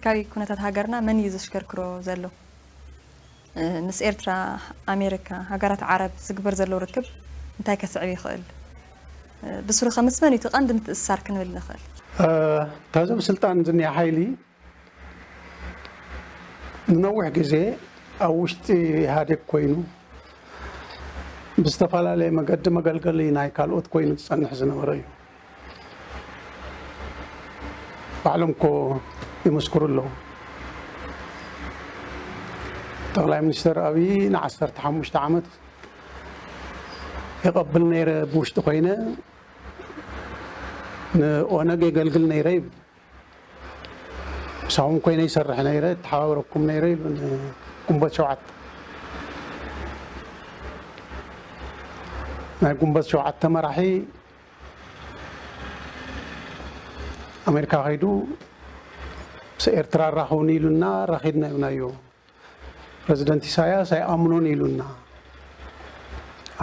ፖለቲካዊ ኩነታት ሃገርና መን እዩ ዘሽከርክሮ ዘሎ? ምስ ኤርትራ፣ ኣሜሪካ፣ ሃገራት ዓረብ ዝግበር ዘሎ ርክብ እንታይ ከስዕብ ይኽእል? ብስሩ ከ ምስ መን እዩ እቲ ቀንዲ ምትእስሳር ክንብል ንኽእል? ካብዞም ስልጣን ዝኒሀ ሓይሊ ንነዊሕ ግዜ ኣብ ውሽጢ ኢህኣዴግ ኮይኑ ብዝተፈላለየ መገዲ መገልገሊ ናይ ካልኦት ኮይኑ ዝፀንሕ ዝነበረ እዩ። ባዕሎም እኮ ይምስክሩ ኣለዉ። ጠቕላይ ሚኒስትር ኣብይ ንዓሰርተ ሓሙሽተ ዓመት የቐብል ነይረ ብውሽጢ ኮይነ ንኦነግ የገልግል ነይረ ይብል። ምሳኹም ኮይነ ይሰርሕ ነይረ ተሓባብረኩም ነይረ ይብሉ ንግንቦት ሸውዓተ ናይ ግንቦት ሸውዓተ መራሒ ኣሜሪካ ከይዱ ምስ ኤርትራ ራኸቡኒ ኢሉና ረኺድና ኢብናዮ ፕረዚደንት ኢሳያስ ኣይኣምኖን ኢሉና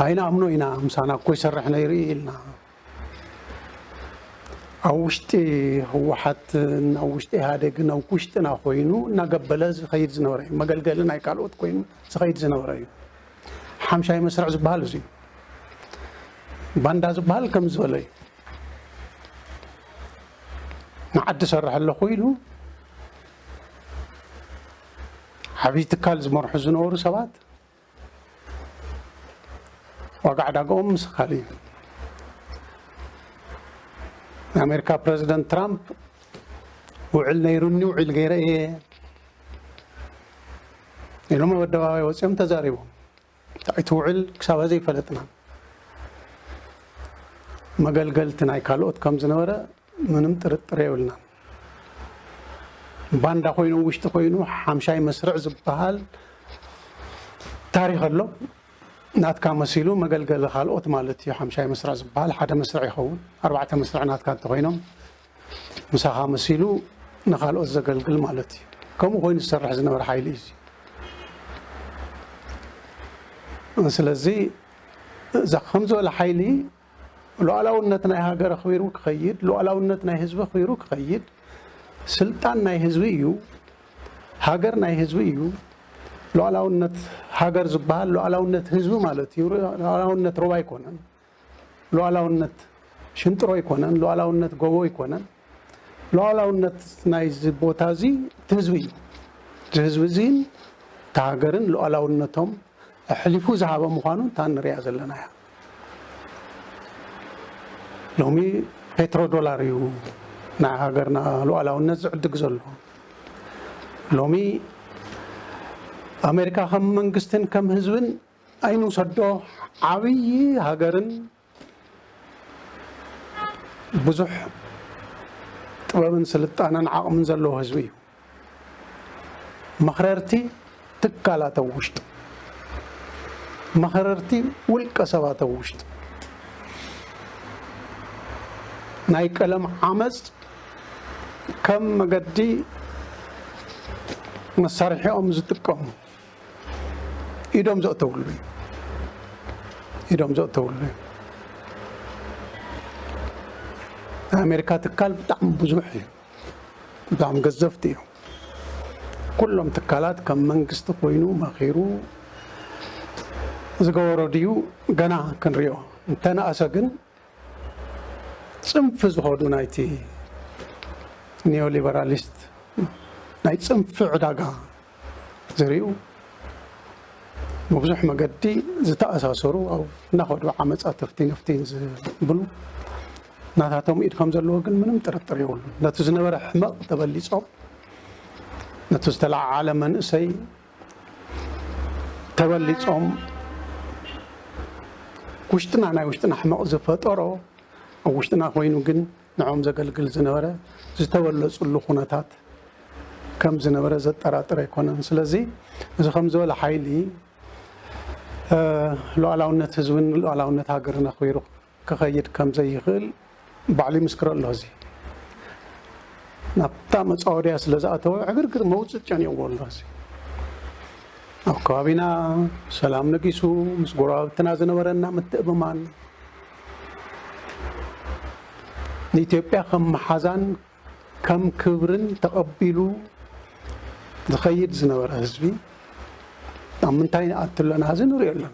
ኣይንኣምኖ ኢና ምሳና እኮ ይሰርሕ ነይሩ ኢልና ኣብ ውሽጢ ህወሓትን ኣብ ውሽጢ ኢህኣዴግን ኣብ ውሽጥና ኮይኑ እናገበለ ዝኸይድ ዝነበረ እዩ መገልገሊ ናይ ካልኦት ኮይኑ ዝኸይድ ዝነበረ እዩ ሓምሻይ መስርዕ ዝበሃል እዚ እዩ ባንዳ ዝበሃል ከም ዝበለ እዩ ንዓዲ ሰርሐ ኣለኹ ኢሉ ዓብዪ ትካል ዝመርሑ ዝነበሩ ሰባት ዋጋ ዕዳጋኦም ምስ ካልእ እዩ ናይ ኣሜሪካ ፕረዚደንት ትራምፕ ውዕል ነይሩኒ ውዒል ገይረ እየ ኢሎም ኣብ ኣደባባይ ወፂኦም ተዛሪቦም እንታይ ትውዕል ክሳብ ሀዚ ኣይፈለጥናን። መገልገልቲ ናይ ካልኦት ከም ዝነበረ ምንም ጥርጥር የብልናን። ባንዳ ኮይኑ ውሽጢ ኮይኑ ሓምሻይ መስርዕ ዝበሃል ታሪክ ኣሎ። ናትካ መሲሉ መገልገሊ ካልኦት ማለት እዩ። ሓምሻይ መስርዕ ዝበሃል ሓደ መስርዕ ይኸውን። ኣርባዕተ መስርዕ ናትካ እንተኾይኖም ምሳኻ መሲሉ ንኻልኦት ዘገልግል ማለት እዩ። ከምኡ ኮይኑ ዝሰርሕ ዝነበረ ሓይሊ እዩ። ስለዚ እዛ ከም ዝበለ ሓይሊ ሉዓላውነት ናይ ሃገር ኣኽቢሩ ክኸይድ፣ ሉዓላውነት ናይ ህዝቢ ኣኽቢሩ ክኸይድ፣ ስልጣን ናይ ህዝቢ እዩ፣ ሃገር ናይ ህዝቢ እዩ። ሉዓላውነት ሃገር ዝበሃል ሉዓላውነት ህዝቢ ማለት እዩ። ሉዓላውነት ሮባ ኣይኮነን። ሉኣላውነት ሽንጥሮ ኣይኮነን፣ ሉኣላውነት ጎቦ ኣይኮነን። ሉኣላውነት ናይዚ ቦታ እዚ እቲ ህዝቢ እዩ። እዚ ህዝቢ እዚን እቲ ሃገርን ሉኣላውነቶም ኣሕሊፉ ዝሃበ ምዃኑ እታ ንሪኣ ዘለና እያ። ሎሚ ፔትሮ ዶላር እዩ ናይ ሃገርና ሉዓላውነት ዝዕድግ ዘሎ ሎሚ ኣሜሪካ ከም መንግስትን ከም ህዝብን ኣይንውሰዶ ዓብዪ ሃገርን ብዙሕ ጥበብን ስልጣነን ዓቕምን ዘለዎ ህዝቢ እዩ። መኽረርቲ ትካላት ኣብ ውሽጡ፣ መኽረርቲ ውልቀ ሰባት ኣብ ውሽጡ ናይ ቀለም ዓመፅ ከም መገዲ መሳርሒኦም ዝጥቀሙ ኢዶም ዘእተውሉ እዩ ኢዶም ዘእተውሉ እዩ ናይ ኣሜሪካ ትካል ብጣዕሚ ብዙሕ እዩ ብጣዕሚ ገዘፍቲ እዮም ኩሎም ትካላት ከም መንግስቲ ኮይኑ መኺሩ ዝገበሮ ድዩ ገና ክንሪኦ እንተነኣሰ ግን ጽንፊ ዝኸዱ ናይቲ ኒዮሊበራሊስት ናይ ጽንፊ ዕዳጋ ዝርኡ ብብዙሕ መገዲ ዝተኣሳሰሩ ኣብ እናኸዱ ዓመፃ ትፍቲ ንፍቲን ዝብሉ ናታቶም ኢድ ከም ዘለዎ ግን ምንም ጥርጥር የብሉን ነቲ ዝነበረ ሕመቕ ተበሊፆም ነቲ ዝተለዓዓለ መንእሰይ ተበሊጾም ውሽጥና ናይ ውሽጥና ሕመቕ ዝፈጠሮ ኣብ ውሽጥና ኮይኑ ግን ንዕኦም ዘገልግል ዝነበረ ዝተበለፅሉ ኩነታት ከም ዝነበረ ዘጠራጥር ኣይኮነን። ስለዚ እዚ ከም ዝበለ ሓይሊ ሉዓላውነት ህዝብን ሉዓላውነት ሃገርን ኣኽቢሩ ክኸይድ ከም ዘይኽእል ባዕሉ ይምስክሮ ኣሎ እዚ ናብታ መጻወድያ ስለ ዝኣተወ ዕግርግር መውጽእ ጨኒቕዎ ኣሎ እዚ ኣብ ከባቢና ሰላም ነጊሱ ምስ ጎረባብትና ዝነበረና ምትእምማን ንኢትዮጵያ ከም መሓዛን ከም ክብርን ተቐቢሉ ዝኸይድ ዝነበረ ህዝቢ ኣብ ምንታይ ንኣቱ ኣለና እዚ ንሪኦ ኣለና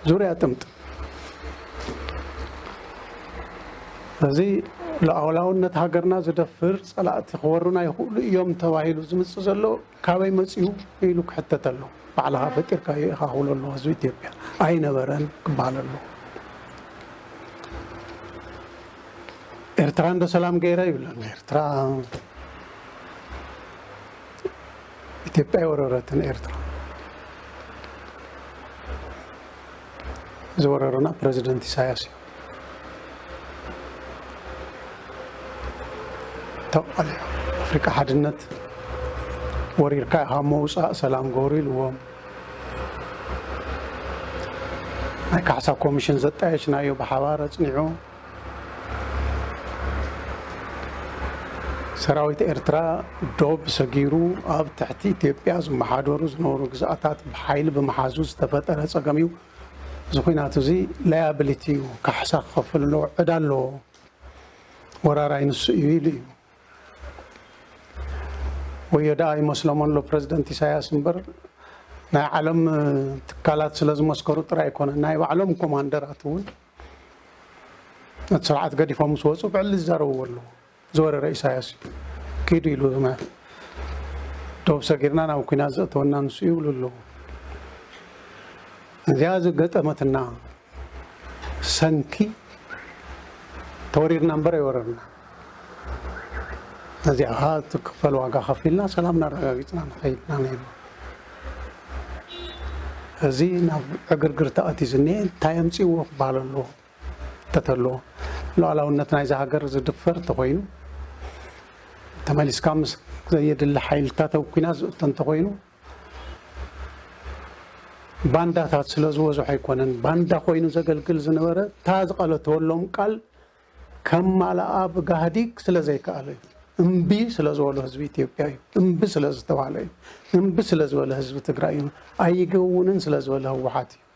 ዙርያ ጥምጥም እዚ ሉዓላውነት ሃገርና ዝደፍር ፀላእቲ ክወሩና ይኽእሉ እዮም ተባሂሉ ዝምፅ ዘሎ ካበይ መጺኡ ኢሉ ክሕተት ኣለዎ። ባዕልኻ ፈጢርካዮ ኢኻ ክብሎ ኣለዎ ህዝቢ ኢትዮጵያ። ኣይነበረን ክበሃል ኣለዎ። ኤርትራ እንዶ ሰላም ገይረ ይብለና። ኤርትራ ኢትዮጵያ ኣይወረረትን ኤርትራ ዝወረሩና ፕረዚደንት ኢሳያስ እዩ። ተቃሊዑ ኣፍሪቃ ሓድነት ወሪርካ ኢኻ መውፃእ ሰላም ገበሩ ኢልዎም ናይ ካሕሳ ኮሚሽን ዘጣየሽናዮ ብሓባር ኣፅኒዑ ሰራዊት ኤርትራ ዶብ ሰጊሩ ኣብ ትሕቲ ኢትዮጵያ ዝመሓደሩ ዝነበሩ ግዝኣታት ብሓይሊ ብምሓዙ ዝተፈጠረ ፀገም እዩ እዚ ኹናት እዚ ላያብሊቲ እዩ ካሕሳ ክኸፍል ኣለዎ ዕዳ ኣለዎ ወራራይ ንሱ እዩ ኢሉ እዩ ወዮ ደኣ ይመስሎም ኣሎ ፕረዚደንት ኢሳያስ እምበር ናይ ዓለም ትካላት ስለ ዝመስከሩ ጥራይ ኣይኮነ ናይ ባዕሎም ኮማንደራት እውን ነቲ ስርዓት ገዲፎም ምስ ወፁ ብዕሊ ዝዛረብዎ ኣለዎ ዝወረረ ኢሳያስ እዩ ኪዱ ኢሉ ህግማት ዶብ ሰጊርና ናብ ኩናት ዘእተወና ንሱ ይብሉ ኣለዉ እዚኣ ዝገጠመትና ሰንኪ ተወሪርና እምበር ኣይወረርና ነዚኣ ከዓ ትክፈል ዋጋ ከፊልና ሰላም እናረጋጊፅና ንኸይድና ነይሩ እዚ ናብ ዕግርግር ተኣትዩ ዝኒሀ እንታይ ኣምፅዎ ክበሃል ኣለዎ እንተተሎ ሉኣላውነት ናይዛ ሃገር ዝድፈር እንተኾይኑ ተመሊስካ ምስ ዘየድሊ ሓይልታት ኣብ ኩናት ዝእቶ እንተኾይኑ ባንዳታት ስለ ዝበዝሖ ኣይኮነን ባንዳ ኮይኑ ዘገልግል ዝነበረ እታ ዝቐለተወሎም ቃል ከም ማልኣ ብጋህዲግ ስለ ዘይከኣለ እዩ እምቢ ስለ ዝበሎ ህዝቢ ኢትዮጵያ እዩ እምቢ ስለ ዝተባሃለ እዩ እምቢ ስለ ዝበለ ህዝቢ ትግራይ እዩ ኣይገውንን ስለ ዝበለ ህወሓት እዩ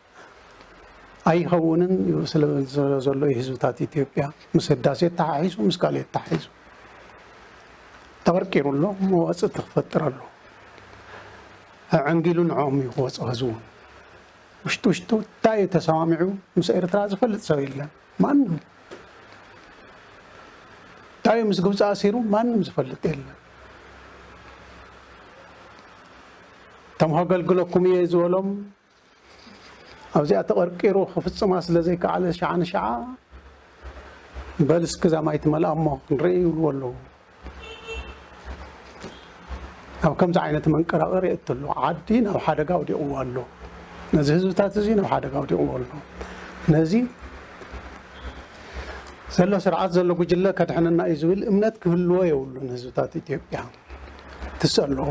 ኣይኸውንን እዩ ስለዘሎ እዩ ህዝብታት ኢትዮጵያ ምስ ህዳሴ ተሓሒዙ ምስ ካልኦት ተሓሒዙ ተቐርቂሩ ኣሎ መዋፅእቲ ክፈጥር ኣሎ ዕንጊሉ ንዕኦም እዩ ክወፅ ህዝቡ ውሽጡ ውሽጡ እንታይ እዩ ተሰማሚዑ ምስ ኤርትራ ዝፈልጥ ሰብ የለን ማንም እንታይ ምስ ግብፂ ኣሲሩ ማንም ዝፈልጥ የለን እቶም ከገልግለኩም እየ ዝበሎም ኣብዚኣ ተቐርቂሩ ክፍጽማ ስለ ዘይከኣለ ሸዓ ንሸዓ በል እስኪ እዛ ማይ ትመልኣ እሞ ክንርኢ ይብልዎ ኣለዉ። ኣብ ከምዚ ዓይነት መንቀራቐር የእቱ ኣሎ ዓዲ ናብ ሓደጋ ኣውዲቕዎ ኣሎ ነዚ ህዝብታት እዚ ናብ ሓደጋ ኣውዲቕዎ ኣሎ ነዚ ዘሎ ስርዓት ዘሎ ጉጅለ ከድሕነና እዩ ዝብል እምነት ክህልዎ የብሉን ህዝብታት ኢትዮጵያ ትሰ ኣለዎ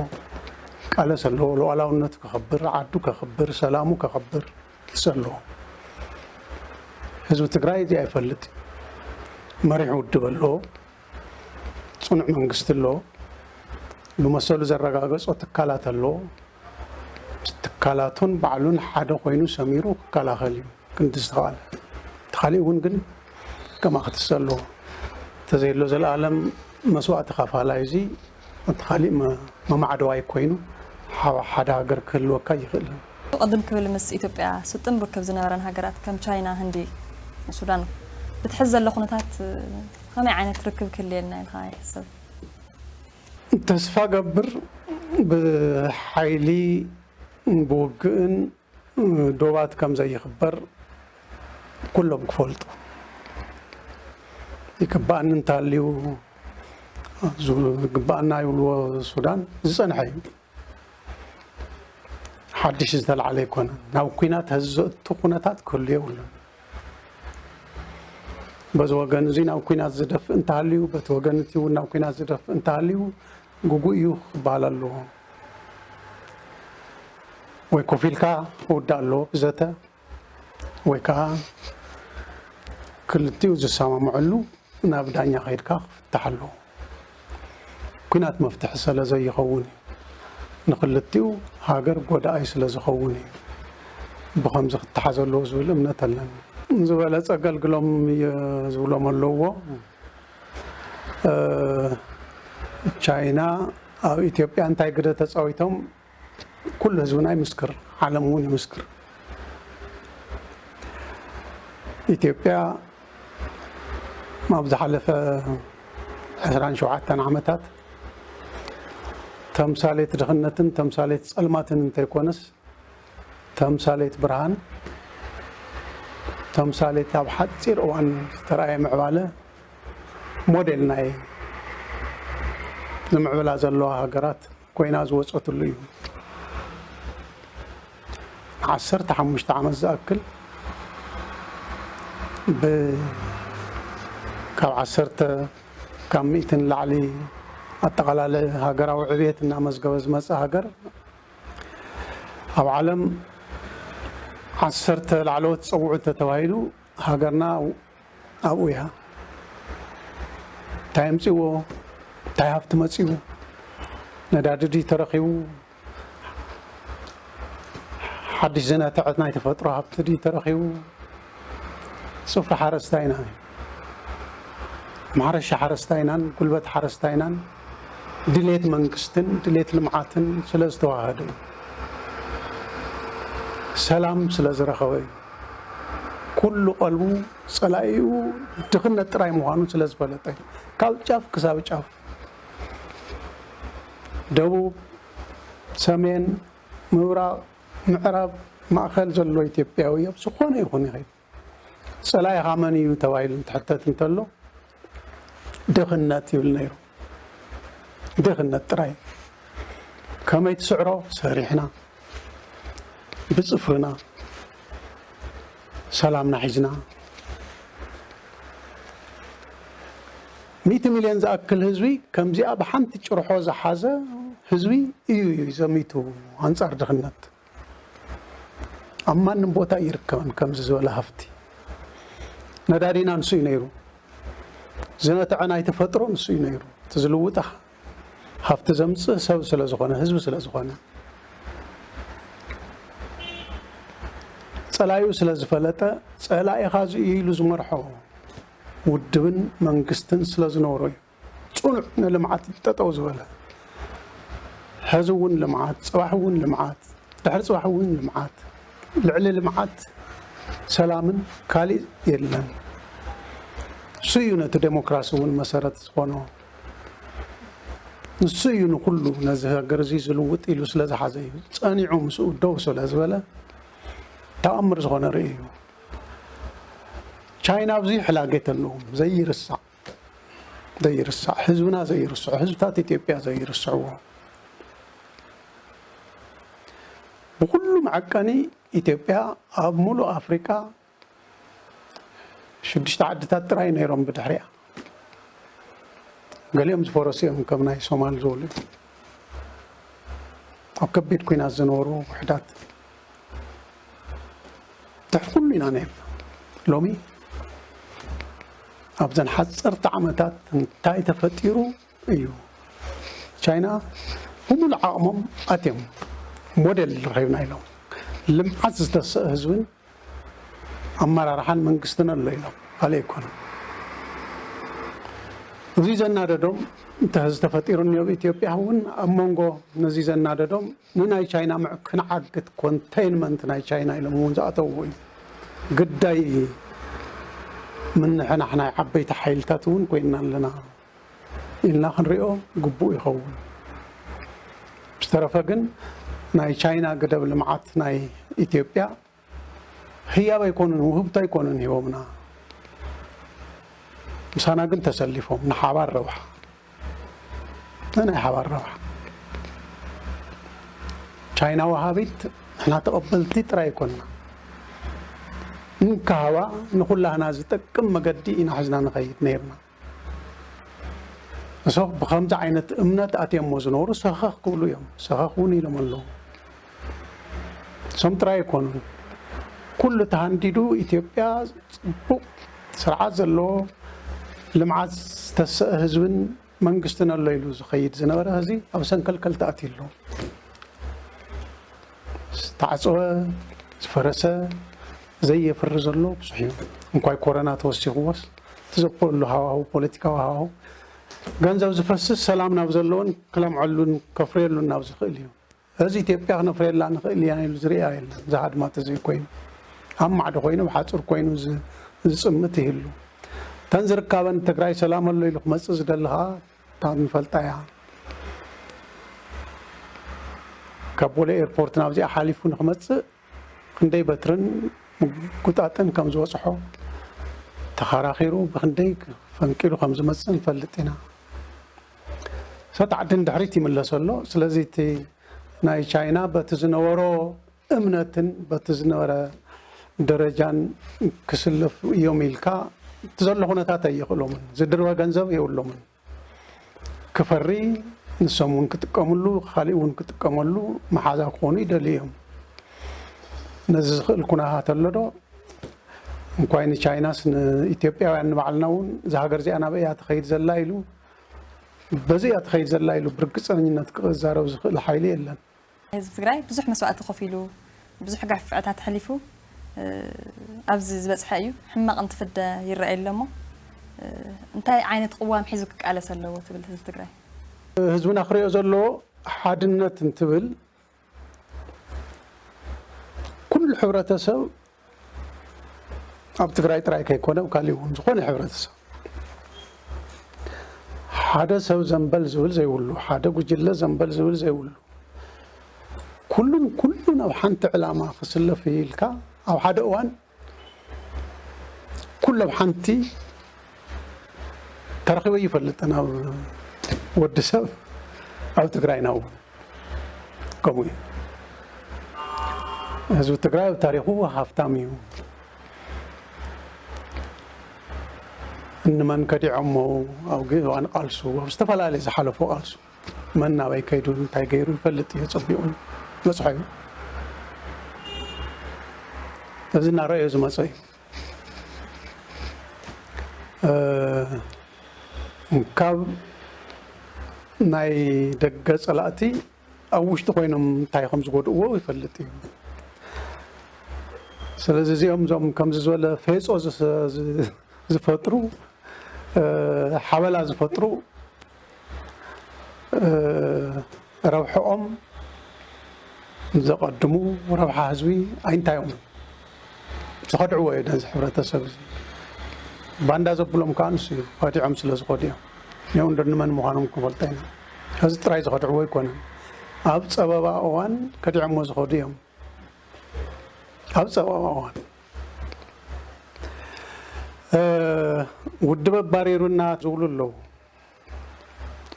ቃለስ ኣለዎ ሉዓላውነቱ ከኽብር ዓዱ ከኽብር ሰላሙ ከኽብር ትሰ ኣለዎ ህዝቢ ትግራይ እዚኣ ይፈልጥ መሪሕ ውድብ ኣለዎ ፅኑዕ መንግስቲ ኣለዎ ብመሰሉ ዘረጋገፆ ትካላት ኣለዎ ትካላቱን ባዕሉን ሓደ ኮይኑ ሰሚሩ ክከላኸል እዩ ክንዲ ዝተኻእለ እቲ ካሊእ እውን ግን ከምኣ ክትሰ ኣለዎ ተዘየሎ ዘልኣለም መስዋእቲ ተኻፋላይ እዚ እቲ ካሊእ መማዕደዋይ ኮይኑ ሓብ ሓደ ሃገር ክህልወካ ኣይኽእልን። ቅድም ክብል ምስ ኢትዮጵያ ስጡም ርክብ ዝነበረን ሃገራት ከም ቻይና፣ ህንዲ፣ ሱዳን ብቲ ሕዚ ዘሎ ኩነታት ከመይ ዓይነት ርክብ ክህልየና ኢልኻ ይሕሰብ? ተስፋ ገብር ብሓይሊ ብውግእን ዶባት ከም ዘይኽበር ኩሎም ክፈልጡ ይግባኣኒ እንተሃልዩ ዝግባኣና ይብልዎ ሱዳን ዝፀንሐ እዩ ሓድሽ ዝተላዕለ ኣይኮነን ናብ ኩናት ሀዚ ዘእቱ ኩነታት ክህሉ የብሉን በዚ ወገን እዚ ናብ ኩናት ዝደፍእ እንተሃልዩ በቲ ወገን እቲ እውን ናብ ኩናት ዝደፍእ እንተሃልዩ ግጉይ እዩ ክበሃል ኣለዎ ወይ ኮፍ ኢልካ ክውዳእ ኣለዎ ብዘተ ወይ ከዓ ክልቲኡ ዝሰማምዕሉ ናብ ዳኛ ከይድካ ክፍታሕ ኣለዎ። ኩናት መፍትሒ ሰለ ዘይኸውን እዩ። ንክልቲኡ ሃገር ጎዳኣይ ስለ ዝኸውን እዩ ብከምዚ ክተሓዝ ኣለዎ ዝብል እምነት ኣለኒ። ዝበለፀ ኣገልግሎም እየ ዝብሎም ኣለውዎ። ቻይና ኣብ ኢትዮጵያ እንታይ ግደ ተፃዊቶም ኩሉ ህዝብና ይምስክር፣ ዓለም እውን ይምስክር። ኢትዮጵያ ኣብ ዝሓለፈ 27 ዓመታት ተምሳሌት ድኽነትን ተምሳሌት ፀልማትን እንተይኮነስ ተምሳሌት ብርሃን ተምሳሌት ኣብ ሓፂር እዋን ዝተረኣየ ምዕባለ ሞዴል ናይ ዝምዕብላ ዘለዋ ሃገራት ኮይና ዝወፀትሉ እዩ። ንዓሰርተ ሓሙሽተ ዓመት ዝኣክል ካብ ዓሰርተ ካብ ሚእቲ ንላዕሊ ኣጠቓላሊ ሃገራዊ ዕብየት እናመዝገበ ዝመፀ ሃገር ኣብ ዓለም ዓሰርተ ላዕለዎት ፀውዑት ተተባሂሉ ሃገርና ኣብኡ እያ። እንታይ ኣምፅዎ እንታይ ሃፍቲ መፅኡ ነዳዲ ድዩ ተረኺቡ ሓድሽ ዝነትዐት ናይ ተፈጥሮ ሃብቲ ድዩ ተረኺቡ ፅፍሪ ሓረስታይና እዩ። ማሕረሻ ሓረስታይናን ጉልበት ሓረስታይናን ድሌት መንግስትን ድሌት ልምዓትን ስለ ዝተዋሃደ እዩ። ሰላም ስለ ዝረኸበ እዩ። ኩሉ ቀልቡ ጸላኢኡ ድኽነት ጥራይ ምዃኑ ስለ ዝፈለጠ እዩ። ካብ ጫፍ ክሳብ ጫፍ ደቡብ፣ ሰሜን፣ ምብራቕ፣ ምዕራብ፣ ማእከል ዘሎ ኢትዮጵያዊ ኣብ ዝኾነ ይኹን ይኸይድ ጸላኢኻ መን እዩ ተባሂሉ እንትሕተት እንተሎ ድኽነት ይብል ነይሩ። ድኽነት ጥራይ ከመይ ትስዕሮ ሰሪሕና ብጽፍርና ሰላምና ሒዝና ሚእቲ ሚልዮን ዝኣክል ህዝቢ ከምዚኣ ብሓንቲ ጭርሖ ዝሓዘ ህዝቢ እዩ እዩ ዘሚቱ ኣንጻር ድኽነት ኣብ ማንም ቦታ ይርከብን ከምዚ ዝበለ ሃፍቲ ነዳዲና ንሱ እዩ ነይሩ ዝነትዐ ናይ ተፈጥሮ ንሱ እዩ ነይሩ እቲ ዝልውጣ ሃፍቲ ዘምፅእ ሰብ ስለ ዝኾነ ህዝቢ ስለ ዝኾነ ፀላዩ ስለ ዝፈለጠ ፀላኢኻ እዚ ኢሉ ዝመርሖ ውድብን መንግስትን ስለ ዝነበሮ እዩ ፅኑዕ ንልምዓት እዩ ጠጠው ዝበለ። ሐዚ እውን ልምዓት፣ ፅባሕ እውን ልምዓት፣ ድሕሪ ፅባሕ እውን ልምዓት፣ ልዕሊ ልምዓት ሰላምን ካሊእ የለን። ንሱ እዩ ነቲ ዴሞክራሲ እውን መሰረት ዝኾኖ። ንሱ እዩ ንኹሉ ነዚ ሃገር እዚ ዝልውጥ ኢሉ ስለ ዝሓዘ እዩ ፀኒዑ ምስኡ ደው ስለ ዝበለ ተኣምር ዝኾነ ርእዩ እዩ። ቻይና ኣብዚ ሕላገት ኣለዎም ዘይርሳዕ። ዘይርሳዕ ህዝብና ዘይርስዖ ህዝብታት ኢትዮጵያ ዘይርስዕዎ ብኩሉ መዐቀኒ ኢትዮጵያ ኣብ ሙሉእ ኣፍሪቃ ሽዱሽተ ዓድታት ጥራይ ነይሮም ብድሕሪያ ገሊኦም ዝፈረሱ እዮም ከም ናይ ሶማል ዝበሉ ኣብ ከቢድ ኩናት ዝነበሩ ውሕዳት ድሕሪ ኩሉ ኢና ነይርና ሎሚ ኣብዘን ሓፀርቲ ዓመታት እንታይ ተፈጢሩ እዩ ቻይና ብምሉእ ዓቕሞም ኣትዮም ሞዴል ረኺብና ኢሎም ልምዓት ዝተሰእ ህዝብን ኣመራርሓን መንግስትን ኣሎ ኢሎም ካልእ ኣይኮነን እዚ ዘናደዶም እንተ ተፈጢሩ እኒኦ ኢትዮጵያ እውን ኣብ መንጎ ነዚ ዘናደዶም ንናይ ቻይና መዕከኒ ዓግት፣ ኮንተይንመንት፣ ናይ ቻይና ኢሎም እውን ዝኣተውዎ እዩ። ግዳይ ምንሕናሕ ናይ ዓበይቲ ሓይልታት እውን ኮይንና ኣለና ኢልና ክንሪኦ ግቡእ ይኸውን። ብዝተረፈ ግን ናይ ቻይና ግደብ ልምዓት ናይ ኢትዮጵያ ህያብ ኣይኮኑን ውህብቶ ኣይኮኑን ሂቦምና ምሳና ግን ተሰሊፎም ንሓባር ረብሓ ንናይ ሓባር ረብሓ ቻይና ወሃቢት ንሕና ተቐበልቲ ጥራይ ኣይኮንና እንካሃባ ንኩላህና ዝጠቅም መገዲ ኢና ሕዝና ንኸይድ ነይርና እሶብ ብከምዚ ዓይነት እምነት ኣትዮሞ ዝነብሩ ሰኸኽ ክብሉ እዮም ሰኸኽ እውን ኢሎም ኣለዉ እሶም ጥራይ ኣይኮኑን ኩሉ ተሃንዲዱ ኢትዮጵያ ፅቡቅ ስርዓት ዘለዎ ልምዓት ዝተሰእ ህዝብን መንግስትን ኣሎ ኢሉ ዝኸይድ ዝነበረ ህዚ ኣብ ሰንከልከል ተኣትዩ ኣሎ ዝተዓፀወ፣ ዝፈረሰ፣ ዘየፍሪ ዘሎ ብዙሕ እዩ። እንኳይ ኮረና ተወሲኽዎስ እቲ ዘክፍእሉ ሃዋህው ፖለቲካዊ ሃዋህው ገንዘብ ዝፈስስ ሰላም ናብ ዘለዎን ክለምዐሉን ከፍርየሉን ናብ ዝኽእል እዩ። እዚ ኢትዮጵያ ክነፍርየላ ንኽእል ኢና ኢሉ ዝርኣ የለን ዝሃድማ ተዘይኮይኑ ኣብ ማዕዶ ኮይኑ ኣብ ሓፁር ኮይኑ ዝፅምት ይህሉ። እተን ዝርካበን ትግራይ ሰላም ኣሎ ኢሉ ክመፅእ ዝደሊ ከዓ ካብ ንፈልጣ እያ ካብ ቦሌ ኤርፖርት ናብዚኣ ሓሊፉ ንክመፅእ ክንደይ በትርን ምጉጣጥን ከም ዝበፅሖ ተኸራኺሩ ብክንደይ ፈንቂሉ ከም ዝመፅእ ንፈልጥ ኢና ሰጥ ዓዲ ንድሕሪት ይምለሰ ኣሎ ስለዚ እቲ ናይ ቻይና በቲ ዝነበሮ እምነትን በቲ ዝነበረ ደረጃን ክስለፉ እዮም ኢልካ እቲ ዘሎ ኩነታት ኣየኽእሎምን። ዝድርበ ገንዘብ የብሎምን። ክፈሪ ንሶም እውን ክጥቀምሉ ካሊእ እውን ክጥቀመሉ መሓዛ ክኾኑ ይደልዩ እዮም። ነዚ ዝኽእል ኩነታት ኣሎ ዶ? እንኳይ ንቻይናስ ንኢትዮጵያውያን ንባዕልና እውን እዛ ሃገር እዚኣ ናበይ እያ ትኸይድ ዘላ ኢሉ በዚ እያ ትኸይድ ዘላ ኢሉ ብርግፀኝነት ክዛረብ ዝኽእል ሓይሊ የለን። ህዝቢ ትግራይ ብዙሕ መስዋእቲ ከፊሉ ብዙሕ ገፍዕታት ሐሊፉ ኣብዚ ዝበፅሐ እዩ። ሕማቕ እንትፍደ ይረኣይ ኣሎ እሞ እንታይ ዓይነት ቕዋም ሒዙ ክቃለስ ኣለዎ ትብል ህዝቢ ትግራይ? ህዝብና ክሪኦ ዘለዎ ሓድነት እንትብል ኩሉ ሕብረተሰብ ኣብ ትግራይ ጥራይ ከይኮነ ኣብ ካሊእ እውን ዝኾነ ሕብረተሰብ ሓደ ሰብ ዘንበል ዝብል ዘይብሉ ሓደ ጉጅለ ዘንበል ዝብል ዘይብሉ ኩሉን ኩሉን ኣብ ሓንቲ ዕላማ ክስለፍ ኢልካ ኣብ ሓደ እዋን ኩሉ ኣብ ሓንቲ ተረኺበ ይፈልጥ ናብ ወዲ ሰብ ኣብ ትግራይና እውን ከምኡ እዩ ህዝቢ ትግራይ ኣብ ታሪኹ ሃፍታም እዩ እንመን ከዲዖሞ ኣብ ግእዋን ቃልሱ ኣብ ዝተፈላለዩ ዝሓለፉ ቃልሱ መን ናበይ ከይዱ እንታይ ገይሩ ይፈልጥ እዩ ፀቢቑ መፅሖ እዩ እዚ እናረኣዮ ዝመፀ እዩ ካብ ናይ ደገ ፀላእቲ ኣብ ውሽጢ ኮይኖም እንታይ ከም ዝጎድእዎ ይፈልጥ እዩ ስለዚ እዚኦም እዞም ከምዚ ዝበለ ፌፆ ዝፈጥሩ ሓበላ ዝፈጥሩ ረብሐኦም ዘቐድሙ ረብሓ ህዝቢ ኣይንታዮም ዝኸድዕዎ እዮ ነዚ ሕብረተሰብ እዚ ባንዳ ዘብሎም ከዓ ንሱ እዩ ኸዲዖም ስለ ዝኾዱ እዮም እኒኦም እንዶ ንመን ምዃኖም ክንፈልጦ ኢና እዚ ጥራይ ዝኸድዕዎ ኣይኮነን ኣብ ፀበባ እዋን ከዲዖሞ ዝኸዱ እዮም ኣብ ፀበባ እዋን ውድብ ኣባሪሩና ዝብሉ ኣለዉ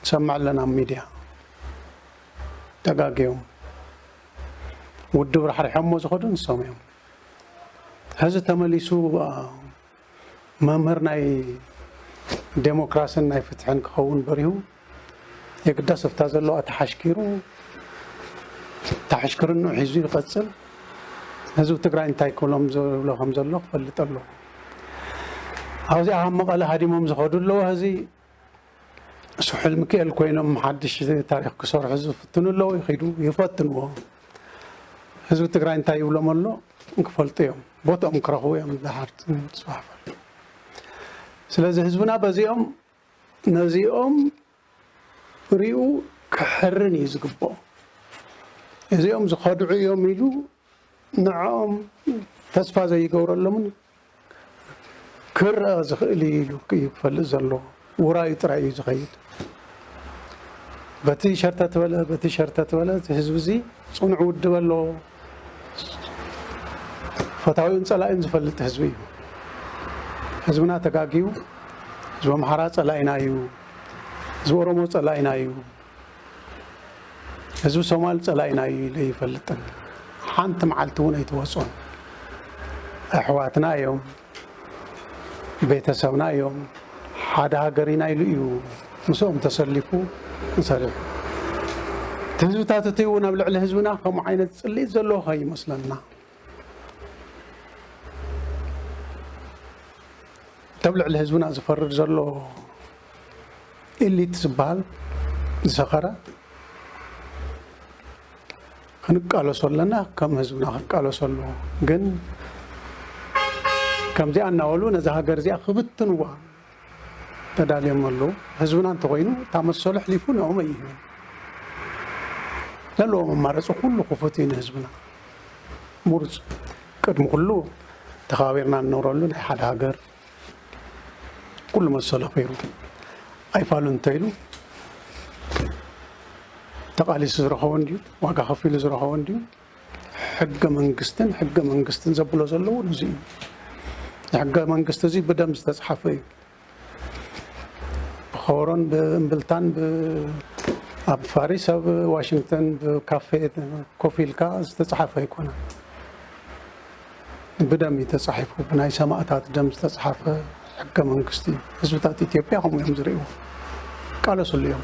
ንሰምዕ ኣለና ኣብ ሚድያ ተጋግዮም ውድብ ራሕሪሖሞ ዝኸዱ ንሶም እዮም ሕዚ ተመሊሱ መምህር ናይ ዴሞክራሲን ናይ ፍትሕን ክኸውን በሪሁ የግዳስ ኣብታ ዘለዋ ተሓሽኪሩ ተሓሽክርንኡ ሒዙ ይቐፅል ህዝቢ ትግራይ እንታይ ክብሎም ዝብሎ ከም ዘሎ ክፈልጥ ኣለዎ ኣብዚ ኣብ መቐለ ሃዲሞም ዝኸዱ ኣለዎ ህዚ ስሑል ሚካኤል ኮይኖም ሓድሽ ታሪክ ክሰርሑ ዝፍትኑ ኣለዉ ይኸዱ ይፈትንዎ ህዝቢ ትግራይ እንታይ ይብሎም ኣሎ ክፈልጡ እዮም ቦትኦም ክረኽቡ እዮም ድሓር ፅባሕ ስለዚ ህዝብና በዚኦም ነዚኦም ሪኡ ክሕርን እዩ ዝግብኦ እዚኦም ዝኸድዑ እዮም ኢሉ ንዕኦም ተስፋ ዘይገብረሎምን ክረኣ ዝኽእል እዩ ኢሉ እዩ ክፈልጥ ዘለዎ ውራዩ ጥራይ እዩ ዝኸይድ በቲ ሸርተት በለ በቲ ሸርተት በለ ህዝቢ እዚ ፅኑዕ ውድብ ኣለዎ ፈታዊኡን ፀላኢኡን ዝፈልጥ ህዝቢ እዩ። ህዝብና ተጋጊዩ ህዝቢ ኣምሓራ ፀላኢና እዩ፣ ህዝቢ ኦሮሞ ፀላኢና እዩ፣ ህዝቢ ሶማል ፀላኢና እዩ ኢሉ ይፈልጥን ሓንቲ መዓልቲ እውን ኣይተወፅኦን። ኣሕዋትና እዮም፣ ቤተሰብና እዮም ሓደ ሃገር ኢና ኢሉ እዩ ምስኦም ተሰሊፉ ንሰሪሑ እቲ ህዝብታት እቲ እውን ኣብ ልዕሊ ህዝብና ከምኡ ዓይነት ፅልኢት ዘለዎ ከይመስለና እተብ ልዕሊ ህዝብና ዝፈርድ ዘሎ ኤሊት ዝበሃል ዝሰኸረ ክንቃለሶ ኣለና ከም ህዝብና ክንቃለሶ ኣለዎ ግን ከምዚኣ እናበሉ ነዛ ሃገር እዚኣ ክብትንዋ ተዳልዮም ኣለዉ ህዝብና እንተኮይኑ እታ መሰሉ ኣሕሊፉ ንኦም ኣይህብን ዘለዎ መማረፂ ኩሉ ክፉት እዩ ንህዝብና ምሩፅ ቅድሚ ኩሉ ተኸባቢርና እንነብረሉ ናይ ሓደ ሃገር ኩሉ መሰሉ ኣኽቢሩ ኣይፋሉን እንተይሉ ተቓሊሱ ዝረኸቦ እንድዩ ዋጋ ከፊሉ ዝረኸቦ እንድዩ ሕገ መንግስትን ሕገ መንግስትን ዘብሎ ዘለዎ እዚ እዩ ሕገ መንግስቲ እዚ ብደም ዝተፅሓፈ እዩ ብኸበሮን ብእምብልታን ኣብ ፋሪስ ኣብ ዋሽንግተን ብካፌ ኮፍ ኢልካ ዝተፅሓፈ ኣይኮነን ብደም እዩ ተፃሒፉ ብናይ ሰማእታት ደም ዝተፅሓፈ ሕገ መንግስቲ እዩ ህዝብታት ኢትዮጵያ ከምኡ እዮም ዝርእይዎ ይቃለስሉ እዮም